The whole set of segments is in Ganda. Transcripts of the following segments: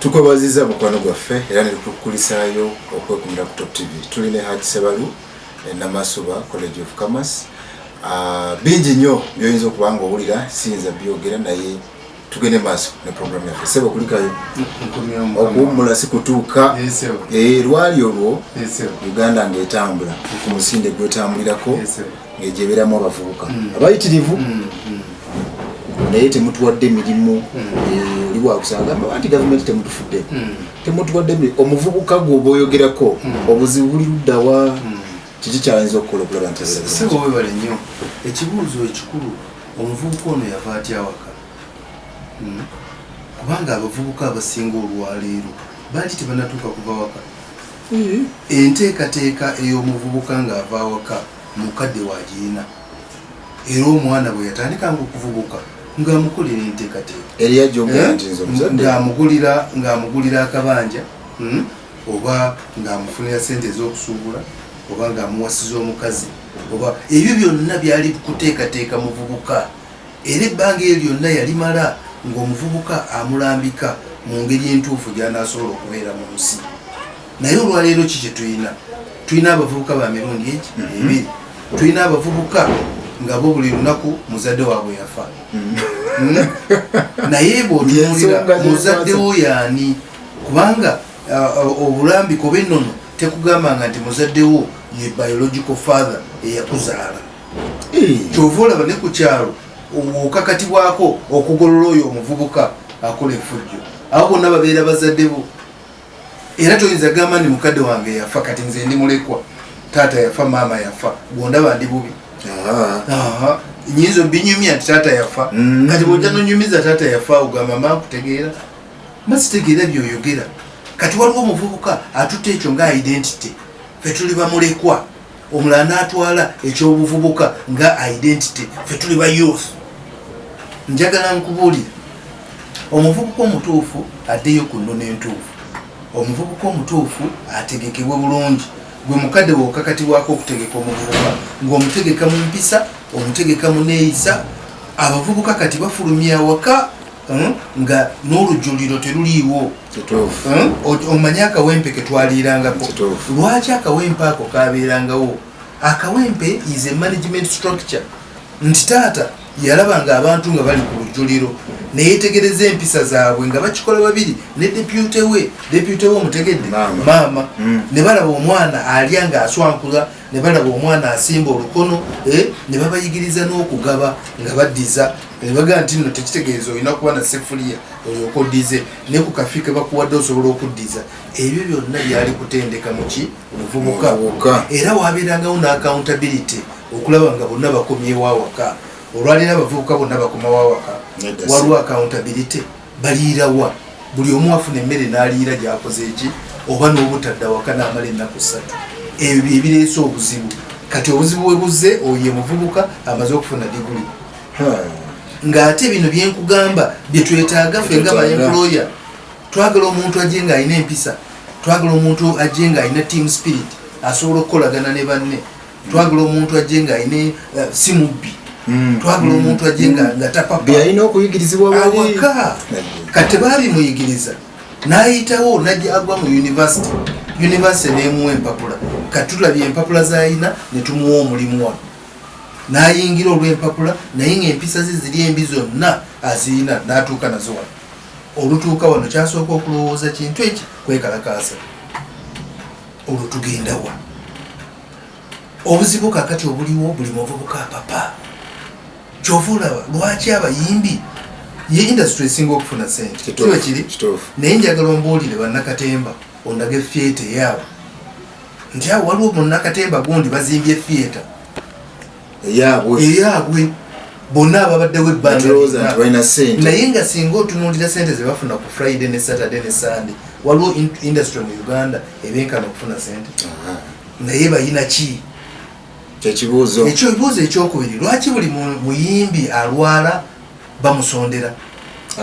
tukwebaziza mukwano gwaffe era netukukulisaayo okwekumira ku top tv tuli ne haj sebalu enamasuba eh, college of commerce ah, bingi nnyo byoyinza okuba nga owulira siyinza byogera naye tugende maaso ne program yaffe sebo kulikayo okuwummula si kutuuka eh, lwali olwo uganda ngaetambula ku musinde gwetambulirako ngaegyebeeramu abavubuka mm. abayitirivu mm, mm. naye temutuwadde mirimu eh, oli wakusagamba anti gavumenti temutufudde temutuwadde omuvubuka gwe oba oyogerako obuzibu buli luddawa kiki kyayinza okukola okulaba nti sebo webale nnyo ekibuuzo ekikulu omuvubuka ono yava atya awaka hmm? kubanga abavubuka abasinga olwaleero bangi tebanatuuka kuva waka hmm. enteekateeka ey'omuvubuka ng'ava awaka mukadde wagirina era omwana bwe yatandikanga okuvubuka ng'amukolera enteekateeka eh? ng'amugulira akabanja hmm? oba ng'amufunira sente ez'okusuubula oba ng'amuwasiza omukazi oba ebyo byonna byali kuteekateeka muvubuka era ebbanga eryo lyonna yalimala ng'omuvubuka amulambika mu ngeri entuufu gy'anaasobola okubeera mu nsi naye olwaleero ki kye tulina tulina abavubuka ba mirundi eki mhm. ebiri tulina abavubuka nga bo buli lunaku muzadde waabwe yafa mhm. naye bwotunulira muzaddewo yaani kubanga uh, obulambiko benono tekugambanga nti muzaddewo ye biological father eyakuzaala eh. kyova olaba ne ku kyalo okakatibwako okugolola oyo omuvubuka akola efujjo abo bonna babeera bazadde bo era toyinza gamba ni mukadde wange yafa kati nze ndi mulekwa taata yafa maama yafa gwondaba ndi bubi nyinza obinyumya nti taata yafa mm. kati bwoja nonyumiza taata yafa ogamba makutegeera mazitegeera byoyogera kati waliwo omuvubuka atutte ekyo nga identity fe tuli bamulekwa omulala natwala ekyobuvubuka nga identity fe tuli ba youth njagala nkubuulire omuvubuka omutuufu addeyo ku nnono entuufu omuvubuka omutuufu ategekebwe bulungi gwe mukadde wokakatibwako okutegeka omuvubuka ngaomutegeka mu mpisa omutegeka mu neeyisa abavubuka kati bafulumya awaka Hmm? nga n'olujuliro teruliiwo hmm? omanye akawempe ketwaliirangako lwaki akawempe ako kabeerangawo akawempe is a management structure nti taata yalaba nga abantu nga bali ku lujuliro neyetegereza empisa zaabwe nga bakikola babiri ne depute we depute we omutegedde maama hmm. ne balaba omwana alya nga aswankula ne balaba omwana asimba olukono eh, ne babayigiriza n'okugaba nga baddiza nebaga nti no tekitegeeza olina kuba na sefuliya olyoka oddize ne ku kafi ke bakuwadde osobola okuddiza ebyo byonna byali kutendeka muki muvubuka era wabeerangawo ne accountability okulaba nga bonna bakomyewo awaka olwalina abavubuka bonna bakomawo awaka waliwo accountability baliira wa buli omu afuna emmere n'aliira gyakoze eki oba n'obutadda waka n'amala ennaku ssatu ebyo bye bireese obuzibu kati obuzibu bwe buzze oyo ye muvubuka amaze okufuna diguli ng'ate bino bye nkugamba bye twetaaga ffe nga baemploya twagala omuntu ajje ng'alina empisa twagala omuntu ajje ng'alina team spirit asobola okukolagana ne banne twagala omuntu ajje nga ayina eh, si mubbi mm. twagala mm. omuntu ajje nga mm. tapapayalina okuyigirizibwa awaka kati tebabimuyigiriza nayitawo najja agwa mu univesity univesity nemuwa empapula kati tulabye empapula zayina netumuwa omulimu wano nayingira olwempapula naye nga empisa ze ziri embi zonna aziyina natuuka nazo wano olutuuka wano kyasooka okulowooza kintu eki kwekalakaasa olwo tugendawa obuzibu kakati obuliwo buli muvubuka apapa kyova olaba lwaki abayimbi ye industry esinga okufuna sente kiba kiri naye njagala ombuulire bannakatemba ondaga efiyeta eyaabo nti awo waliwo munnakatemba gundi bazimbye efiyeta eyaabwe bonna ababaddewo ebbanganaye nga singa otunuulira sente zebafuna ku friday ne saturday ne sunday waliwo industry mu uganda ebenkana okufuna sente naye bayina ki kyekibuuzo ekyo ebibuuzo ekyokubiri lwaki buli muyimbi alwala bamusondera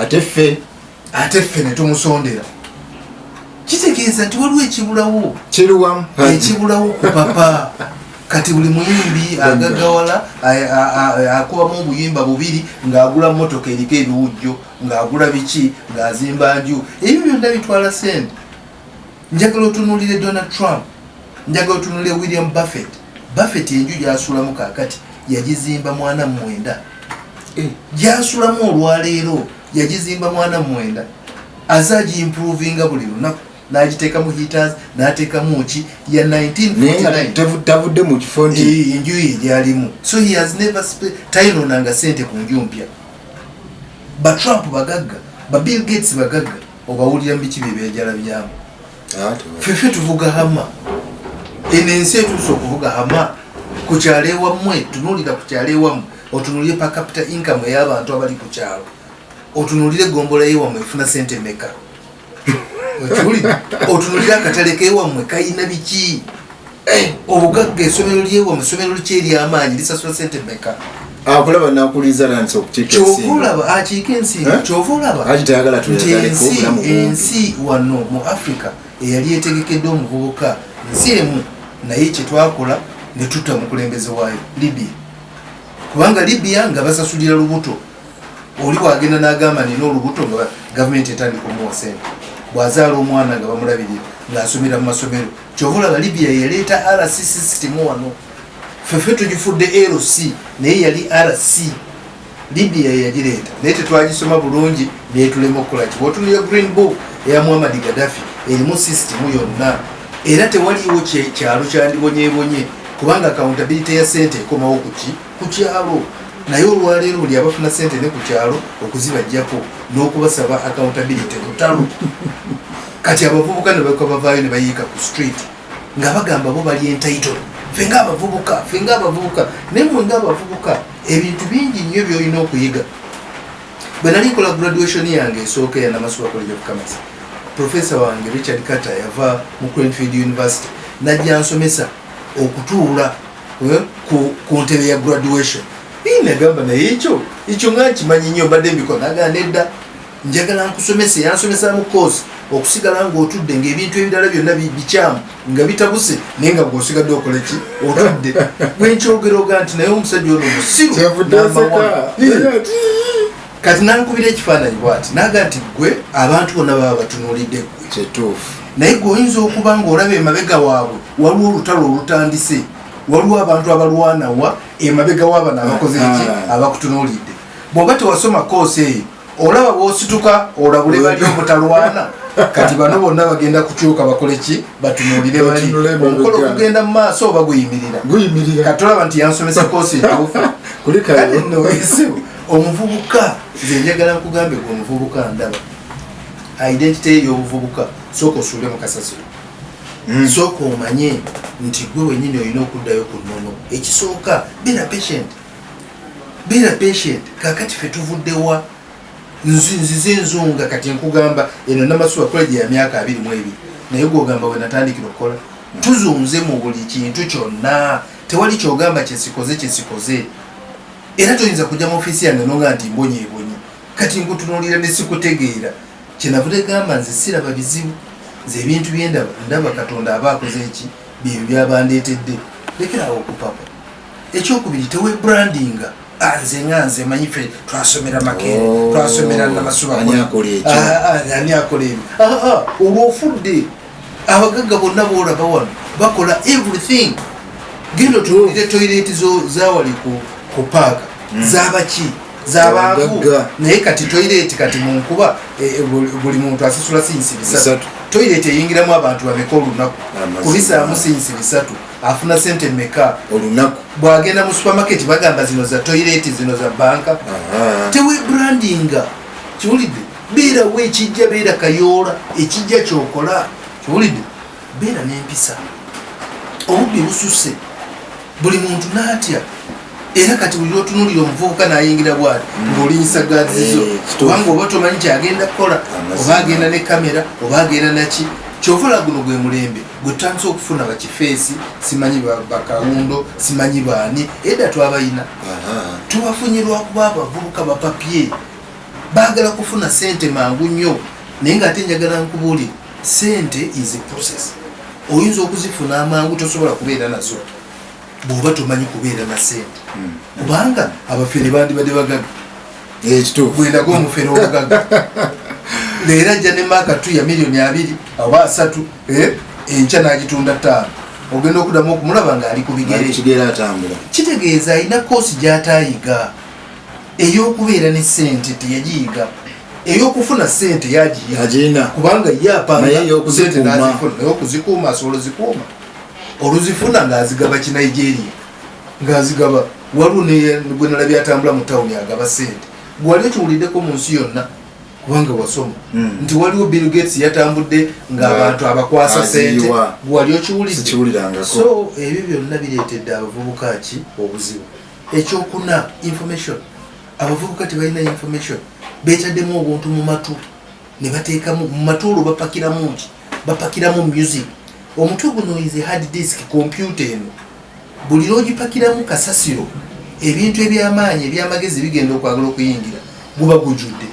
ate ffe ate ffe ne tumusondera kitegeeza nti waliwo ekibulawo kiriwamu ekibulawo ku papa kati buli muyimbi agagawala akubamu obuyimba bubiri ng'agula motoka eriko ebiwujjo ng'agula biki ng'azimba nju ebyo byonna bitwala sente njagala otunulire donald trump njagala otunulire william buffett buffett enju gyasulamu kakati yagizimba mwana mumwenda eh. gyasulamu olwaleero yagizimba mwana mwenda aze agiimprovinga buli lunaku nagiteekamu heaters nateekamu ki ya 1949tavudde mu kifo nti eh, enju ye gyalimu so he has never tayinoonanga sente ku nju mpya ba trump bagagga ba bill gates bagagga obawulira mubiki byebyajala byamu ah, fefe tuvuga hama eno ensi etuusa okuvuga hama ku kyalo ewammwe tunuulira ku kyalo ewammwe otunulire per capita income ey'abantu abali ku kyalo otunulire egombola yewammwe efuna sente meka okiwulira otunulire akatale kewammwe kalina biki eh, obugagga esomero lyewammwe esomero liki eryamaanyi lisasula sente meka akulaba nakuliza nansi okukyekyova akiika ensi eh? kyova olaba nti ensi wano mu africa eyali etegekedde omuvubuka nsi emu naye kyetwakola netuta mukulembeze waayo libya kubanga libya nga basasulira lubuto oli wagenda nagamba nina olubuto nga gavumenti etandika omuwa sente bwazaala omwana nga bamulabirira ngaasomera mu masomero kyova olaba libya yaleeta rc sisitimu wano fefe tugifudde rc naye yali rc libya yagireeta naye tetwagisoma bulungi netulema okukola ki otunulya green book eya muhammad gadafi erimu sisitimu yonna era tewaliwo kyalo kyandibonyebonye kubanga accountability ya sente ekomawo kuki ku kyalo naye olwaleero buli abafuna sente ne ku kyalo okuzibajjako n'okubasaba accountability lutalo kati abavubuka ne baka bavaayo ne bayiika ku street nga bagamba bo bali entitle fe nga abavubuka fe nga abavubuka naye mwe nga abavubuka ebintu bingi nnyo byolina okuyiga bwe nali nkola graduation yange esooka eya namasuba college of commerce profesa wange richard carter yava mu cranfield university najja nsomesa okutuula eh, ku ntebe ya graduation nagamba naye ekyo ekyo nga nkimanyi nnyo mbadde mbikola nagamba nedda njagala nkusomese yansomesa mu course okusigala ng'otudde ng'ebintu ebirala byonna bikyamu nga bitabuse naye nga gwosigadde okola ki otudde gwenkyogeroga nti naye omusajja ono musiru kati nankubira ekifaananyi bwati naga nti gwe abantu bonna baba batunulidde gwe kyetuufu naye gwe oyinza okuba ngaolaba emabega waabwe waliwo olutalo olutandise waliwo abantu abalwanawa emabega wabano abakoze ki ah. abakutunulidde bwoba tewasoma koosi eyo olaba bwosituka olabule bali obutalwana kati bano bonna bagenda kukyuka bakole ki batunulire bali omukolo okugenda mu maaso oba guyimirira kati olaba nti yansomesa koosi entuufu kati nowesewo omuvubuka nze njagala nkugambe gwe omuvubuka ndaba identite ye yobuvubuka sooka osuule mu kasasiro hmm. sooka omanye nti gwe wenyini olina okuddayo ku nono ekisooka bina patient beera patient kakati fe tuvuddewa nzize enzunga kati nkugamba eno namasuba college ya myaka abiri mu ebiri naye gwogamba wenatandikira okukola tuzunze mu buli kintu kyonna tewali kyogamba kyesikoze kyesikoze era toyinza kujja mu ofiisi yange nonga nti mbonyebonye kati nkutunulira nesikutegeera kyenavu tegamba nze siraba bizibu nze ebintu byendaba ndaba katonda aba akoze eki byebyo byabandeetedde lekerawo okupapa ekyokubiri tewe brandinga ah, nze nga nze manyi fe twasomera makere oh, twasomera namasubaani akola ebyo ah, ah, olwo ofudde abagagga bonna boolaba wano bakola everything genda otuulire toyireti zawali ku paaka hmm. zabaki zabangu naye kati toyireti kati munkuba eh, eh, buli muntu asasula sinsi bisatu toyireti eyingiramu abantu bameka olunaku kubisaamu sinsi bisatu afuna sente meka olunaku bwagenda mu supermarket bagamba zino za toilet zino za banka tewe brandinga kiwulidde beerawo ekijja beera kayoola ekijja kyokola kiwulidde beera n'empisa obubbi bususse buli muntu n'atya era kati buli lwotunulira omuvubuka nayingira bwati mm. ngaolinyisa gazizo eh, kubanga oba tomanyi kyagenda kukola oba agenda ne kamera oba agenda naki kyovola guno gwe mulembe gwetutandisa okufuna bakifeesi simanyi bakawundo simanyi baani edda twabayina tubafunye lwakuba abavubuka bapapye bagala kufuna sente mangu nnyo naye nga ate njagala nkubuuli sente is a process oyinza okuzifuna amangu tosobola kubeera nazo bwoba tomanyi kubeera na sente hmm. kubanga abafere bandibadde bagaga bwendaga omufere omugaga leero ajja ne maaka tu ya miliyoni abiri oba asatu eh, enkya n'agitunda ttaano ogenda okudamu okumulaba ngaali ku bigerekigera atambula kitegeeza alina koosi gy'ataayiga ey'okubeera ne sente teyagiyiga eyokufuna sente yagiyina kubanga ye apanga sente nazifuna eyokuzikuuma asobola zikuuma oluzifuna ng'azigaba kinigeria ng'azigaba waliwo gwe nalabye atambula mu tawuni agaba sente gwali okiwuliddeko mu nsi yonna kubanga wasoma hmm. nti waliwo bill gates yatambudde ng'abantu abakwasa sente gwali okiwuliddeso ebyo byonna bireetedde abavubuka ki obuzibu ekyokuna information abavubuka tebalina information betaddemu obuntu mu matu ne bateekamu mu matuulo bapakiramu ki bapakiramu music omutwe guno ize hard disk kompyuta eno buli lwogipakiramu kasasiro ebintu ebyamaanyi ebyamagezi bigenda okwagala okuyingira guba gujudde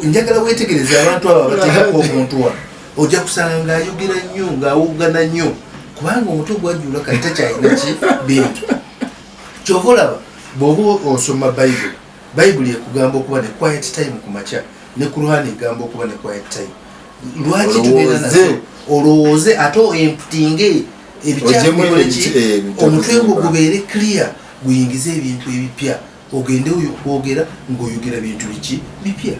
njagala wetegereza abantu abo abateekako omuntu wa ojja kusanga ngaayogera nnyo ngaawoggana nnyo kubanga omutwe gwajula kati takyalina ki bintu kyova olaba bwoba osoma bayibuli bayibuli ekugamba okuba ne quiet time ku makya ne kurhani egamba okuba ne quiet time lwaki tugenda nazo olowooze ate emputinge ebikyakukoleki eh, omutwe gwo gubeere clear guyingize ebintu ebipya ogende kwogera ngaoyogera bintu biki bipya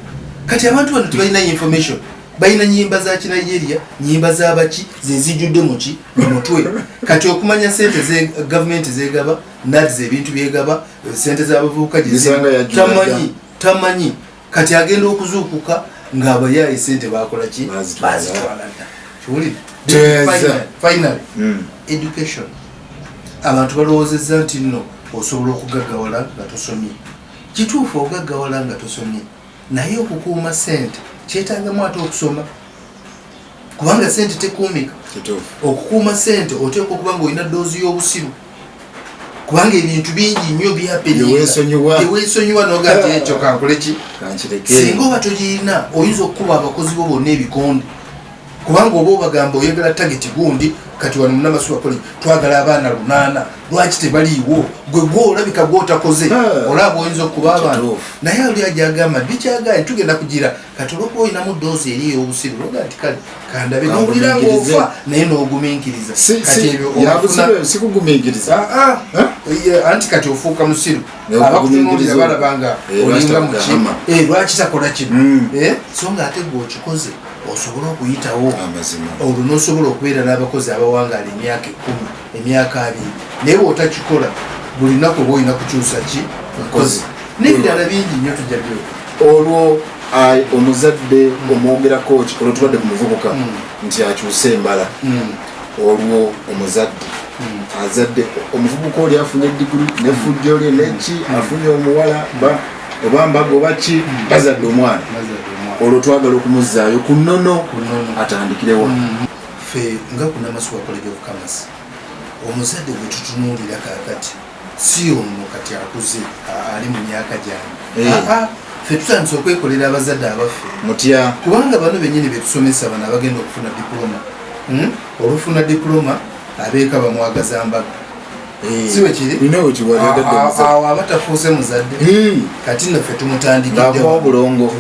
kati abantu bano tebalina information balina nyimba za kinigeria nyimba zabaki zezijudde muki mumutwe kati okumanya sente ze gavumenti zegaba nads ebintu byegaba sente zabavubuka tamanyi tamanyi kati agenda okuzuukuka ngaabayaye sente bakolaki bazitwaladda kiwulire final hmm. education abantu balowoozezza nti nno osobola okugaggawala nga tosomye kituufu ogaggawala nga tosomye naye okukuuma sente kyetangamu ate okusoma kubanga sente tekuumika okukuuma sente oteekwa okuba nga olina doozi y'obusiru kubanga ebintu bingi nnyo byapewesonyiwa nogati ekyo kankoleki singa oba tolirina oyinza okukuba abakozi bo bonna ebikonde kubanga oba obagamba oyagala tageti gundi kati wano munamasubakole twagala abaana lunaana lwaki tebaliiwo gwe gwe olabika gwotakoze ah. olaba oyinza okuba abantu naye oli ajagamba bikyaganye tugenda kugira kati olwokuba olinamu doozi eri ey'obusiru loga nti kale kandabe nowulira ngaofa naye n'ogumiikiriza sikugumiikiriza ah, ah. anti kati ofuuka musiru abakutunuulira balaba nga eh, olinga muki eh, lwaki takola kino hmm. eh, so nga ate gwe okikoze osobola okuyitawo olwo n'osobola okubeera n'abakozi abawangaala emyaka ekkumi emyaka abiri naye bwotakikola buli naku oba olina kukyusa ki nkozi nebirala bingi nyo tujja byo olwo omuzadde mm. omwogerako olwo tubadde ku muvubuka mm. nti akyuse embala mm. olwo omuzadde azadde omuvubuka oli afunye digiri nefujjo lye neki afunye omuwala oba mbaga oba ki bazadde omwana olwo twagala okumuzaayo ku nono atandikirewa ffe nga ku namasuwa college of commerce omuzadde gwe tutunuulira kakati si ono kati akuze ali mu myaka gyange eh. ffe tutandise okwekolera abazadde abaffe mutya kubanga bano benyini betusomesa bano abagenda okufuna diploma hmm? olufuna diploma abeeka bamwagaza mbaga awo aba tafuuse muzadde kati naffe tumutandikiddeobulongo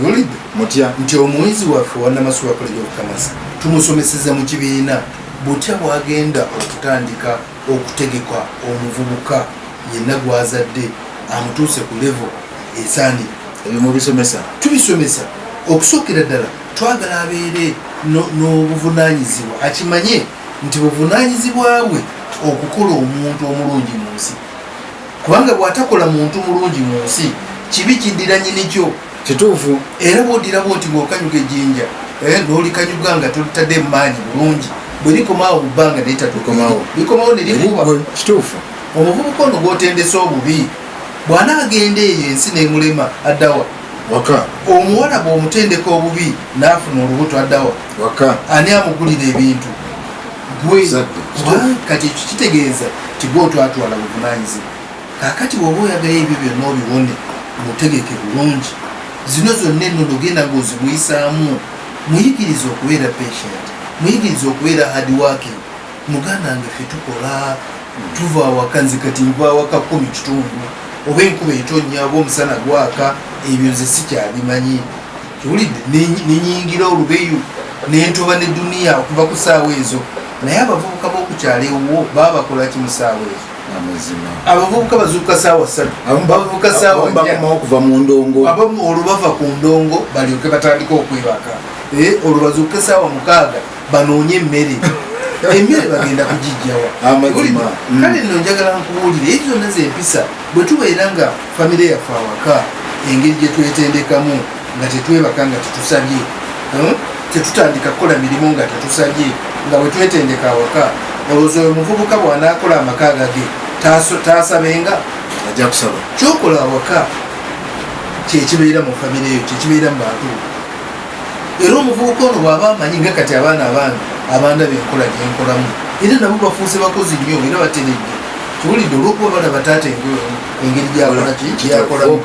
mutya nti omuyizi waffe wanamasuwa koleja okukamasa tumusomeseza mu kibiina butya bwagenda okutandika okutegeka omuvubuka yenna gwazadde amutuuse ku levo esaani ebimubisomesa tubisomesa okusookera ddala twagala abeere n'obuvunanyizibwa akimanye nti buvunanyizibwa bwe okukola omuntu omulungi mu nsi kubanga bwatakola muntu mulungi mu nsi kibi kiddira nyinikyo kituufu era bwodirabo nti bwokanyuga ejinja eh, nolikanyuga nga tolitadde emaanyi bulungi bwerikomaawo mubbanga netatukomawo likomawo nerikuba kituufu omuvubuka ono gwotendese obubi bwana agenda eyo ensi nemulema addawa waka omuwala bwomutendeka obubi nafuna olubuto addawa waka ani amugulira ebintu gwe kati ekyo kitegeeza tigwe otwatwala buvunanyizibwa kakati woba oyagala ebyo byonna obiwone mutegeke bulungi zino zonna enono genda ngaozimuyisaamu muyigiriza okubeera patient muyigiriza okubeera hard working muganda nge fe tukola tuva awaka nze kati nva awaka kumi kitundu oba enkuba etonnya oba omusana gwaka ebyo nze sikyabimanyi kiwulidde nenyingira olubeyu nentoba ne duniya okuva ku saawa ezo naye abavubuka bokukyalo ewuwo baba bakolaki mu saawa ezo abavubuka bazuuka saawa satu bavubuka saawaokuva mu ndongo abamu olwo bava ku ndongo balyoke batandika okwebaka eh, olwo bazuuke saawa mukaaga banoonye emmere emmere bagenda kugijjawa kale nno njagala nkubuulire ezo zonna zempisa Bwe tubeera nga famire yaffe awaka engeri gye twetendekamu nga tetwebaka nga tetusabye hmm? tetutandika kukola mirimu nga tetusabye nga bwe twetendeka awaka olowooza oyo muvubuka bw'anaakola amaka agage taasabenga ajja kusaba kyokola awaka kyekibeera mu famire eyo kyekibeera mu bantu era omuvubuka ono bwaba amanyi nga kati abaana abaana abanda benkola gyenkolamu era nabo bafuuse bakozi nnyo era bateredde kiwulidde olwokuba bana bataata engeri gyakolaki gyakolamu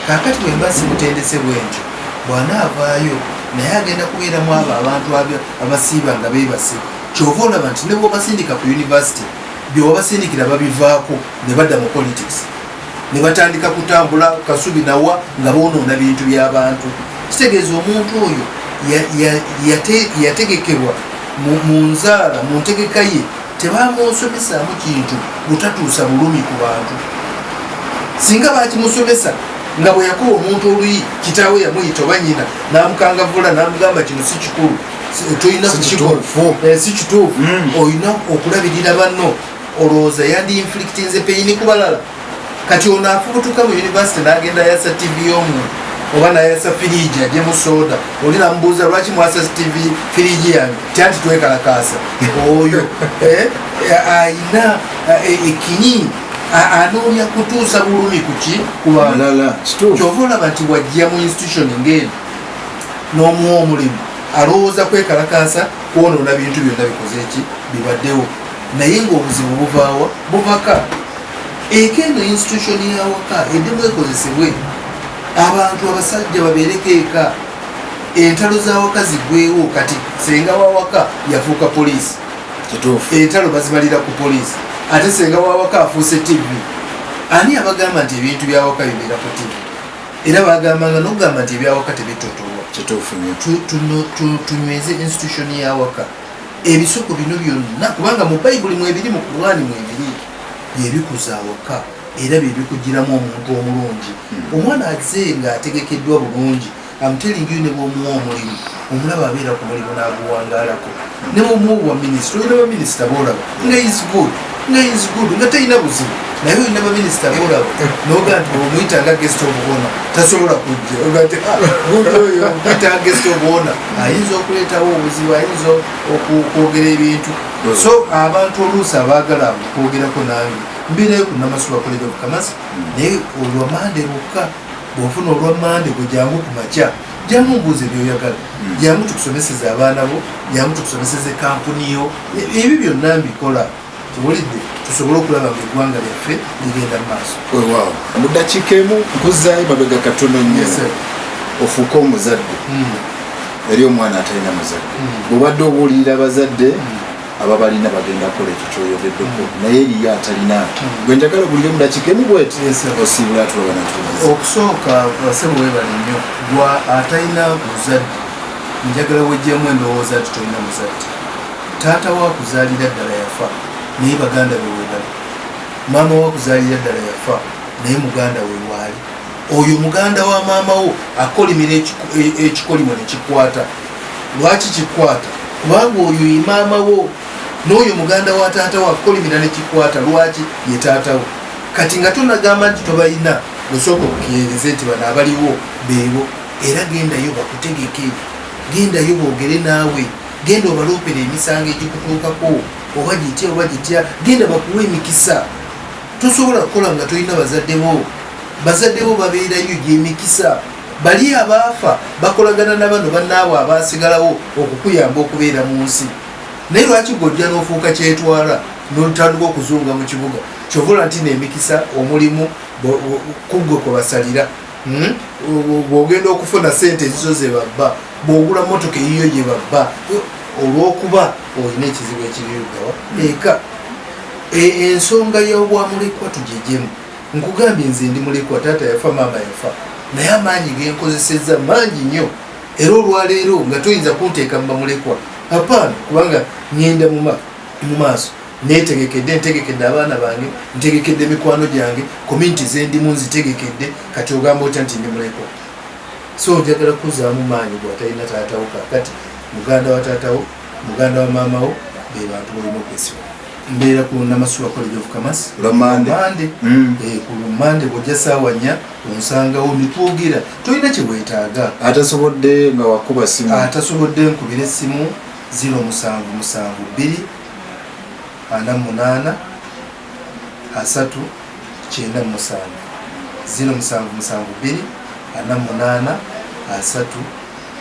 kakati bwemba simutendese bwentyo bwanaavaayo naye agenda kubeeramu abo abantu abasiiba nga bebase kyova olaba nti nebwobasindika ku univesity byewabasindikira babivaako ne badda mu politics ne batandika kutambula kasubi nawa nga bonoona bintu byabantu kitegeeza omuntu oyo yategekebwa mu nzaala mu ntegeka ye tebamusomesaamu kintu butatuusa bulumi ku bantu singa bakimusomesa nga bwe yakuba omuntu oluyi kitaawe yamuyita oba nyina namukangavula namugamba kino si kikulu tolina kukikola si kituufu eh, hmm. olina okulabirira banno olowooza yandi inflictinze peyini ku balala kati ono afubutuka mu univesity nagenda yasa tv yomu oba nayasa firiji ajemu soda oli namubuuza lwaki mwasa tv firiji yange tyanti twekalakaasa oyo eh, eh, ayina eh, ekinyi anoonya kutuusa bulumi kuki kubalala kyova olaba nti wajja mu institution ngaeno n'omuwa omulimu alowooza kwekalakaasa kwonoona bintu byonna bikoze ki bibaddewo naye ngaobuzibu buvaawa buvaka eka eno institution yawaka edimu ekozesebwe abantu abasajja babeereko eka entalo zawaka zigwewo kati senga wawaka yafuuka poliisi entalo bazibalira ku poliisi ate senga wawaka afuuse tv ani abagamba nti ebintu byawaka bibeera ku tv era bagambanga nokugamba nti ebyawaka tebitotolwa tunyweze institution yawaka ebisoko bino byonna kubanga mu bayibuli mwebiri mu kurwani mwebiri byebikuza awaka era byebikugiramu omuntu omulungi hmm. omwana aze nga ategekeddwa bulungi amutelingi ne bwomuwa omulimu omulaba abeera ku mulimu n'aguwangalako ne bwomuwa obwa minisita olina baminisita boolaba nga is good naye is good nga teyina buzibu naye olina baminisita bolaba noga nti omuyita nga gest obuwona tasobola kujja ogati ah, oyo omuyita nga gest obuwona ayinza okuleetawo obuzibu ayinza okwogera ebintu hmm. so abantu oluusi abaagala okwogerako nange mbireyo ku namasuba college of kamas hmm. naye olwa mande lwokka bwofuna olwa mande gwe jangu ku makya jangu mbuuza ebyoyagala jangu hmm. tukusomeseza abaana bo jangu tukusomeseza ekampuni yo ebyo byonna mbikola kiwulidde tusobole okulaba nga eggwanga lyaffe ligenda mu maaso wewaawo mu ddakiika emu nkuzaayo mabega katono nnyo ofuuke omuzadde hmm. eri omwana atalina muzadde hmm. bwebadde obuulirira abazadde hmm. ababalina bagenda kola ekyo kyoyogeddeko naye eriyo atalina gwe njagala buliyo mu dakiika emu bweti osiibula atulabanatuliza okusooka basebo webale nnyo gwa atalina muzadde njagala wejjamu endowooza nti tolina muzadde Taata wo akuzaalira ddala yafa naye baganda be webali. Maama wo akuzaalira ddala yafa naye muganda we waali. Oyo muganda wa maama wo akolimira e, ekikolimo ne kikwata. Lwaki kikwata? Kubanga oyo ye maama wo n'oyo muganda wa taata wo akolimira ne kikwata. Lwaki ye taata wo? Kati nga tonagamba nti tobalina osooka okukiyeereza nti bano abaliwo beebo era gendayo bakutegeke gendayo boogere naawe. genda obaloopera emisango egikutuukako oba gitya oba gitya genda bakuwa emikisa tosobola kukola nga tolina bazadde bo bazadde bo babeerayo gyemikisa bali abaafa bakolagana na bano bannaabwe abaasigalawo okukuyamba okubeera mu nsi naye lwaki gojja n'ofuuka kyetwala nolutandika okuzunga mu kibuga kyovola nti neemikisa omulimu kuggwe kwe basalira hmm? bwogenda okufuna sente ezizo zebabba bwogula motoka eyiyo gyebabba olwokuba olina ekizibu ekirirugawa hmm. eka e, ensonga yobwamulekwa tujejemu nkugambye nze ndi mulekwa taata yafa maama yafa naye amaanyi genkozeseza mangi nnyo era olwaleero nga toyinza kunteeka mubamulekwa apaana kubanga ngenda mu maaso netegekedde ntegekedde abaana bange ntegekedde mikwano gyange kominti zendimu nzitegekedde kati ogamba otya nti ndi mulekwa so ojagala kuzaamu maanyi gwatalina taatawo kakati muganda wa taatawo muganda wa maamawo bebantu balina okwesiba mbeera ku namasuwa college of commerce lwamande mm. eh, ku lumande bwojja saawa nnya onsangawo nitwogera tolina kyewetaaga atasobodde nga wakuba simu atasobodde nkubira essimu ziro musanvu musanvu bbiri ana munaana asatu kyenda musanvu zino musanvu musanvu bbiri ana munaana asatu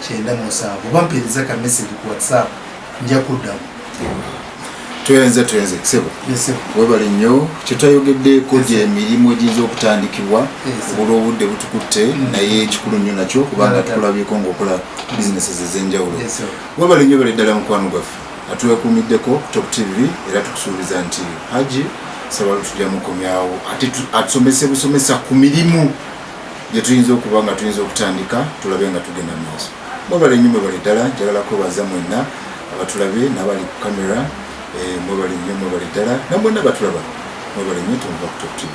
kyenda musanvu oba mpeereza ka message ku whatsapp nja kuddamu twenze twenze kisebo webale nnyo kyetwayogeddeeko gyemirimu egiyinza okutandikibwa obula obudde butukutte mm. naye ekikulu nnyo nakyo kubanga tukulabyeko ngaokola businesses ezenjawulo webale nnyo bale ddala mukwano gwaffe atwekuumiddeko top tv era tukusuubiza nti haji sabalu tujja mukomyawo ate atusomese busomesa ku mirimu gye tuyinza okuba nga tuyinza okutandika tulabe nga tugenda mu maaso mwebale nnyo mwebale ddala njagala kwebaza mwenna abatulabe n'abali ku kamera eh, mwebale nnyo mwebale ddala namwenna batulaba mwebale nnyo tonva ku top tv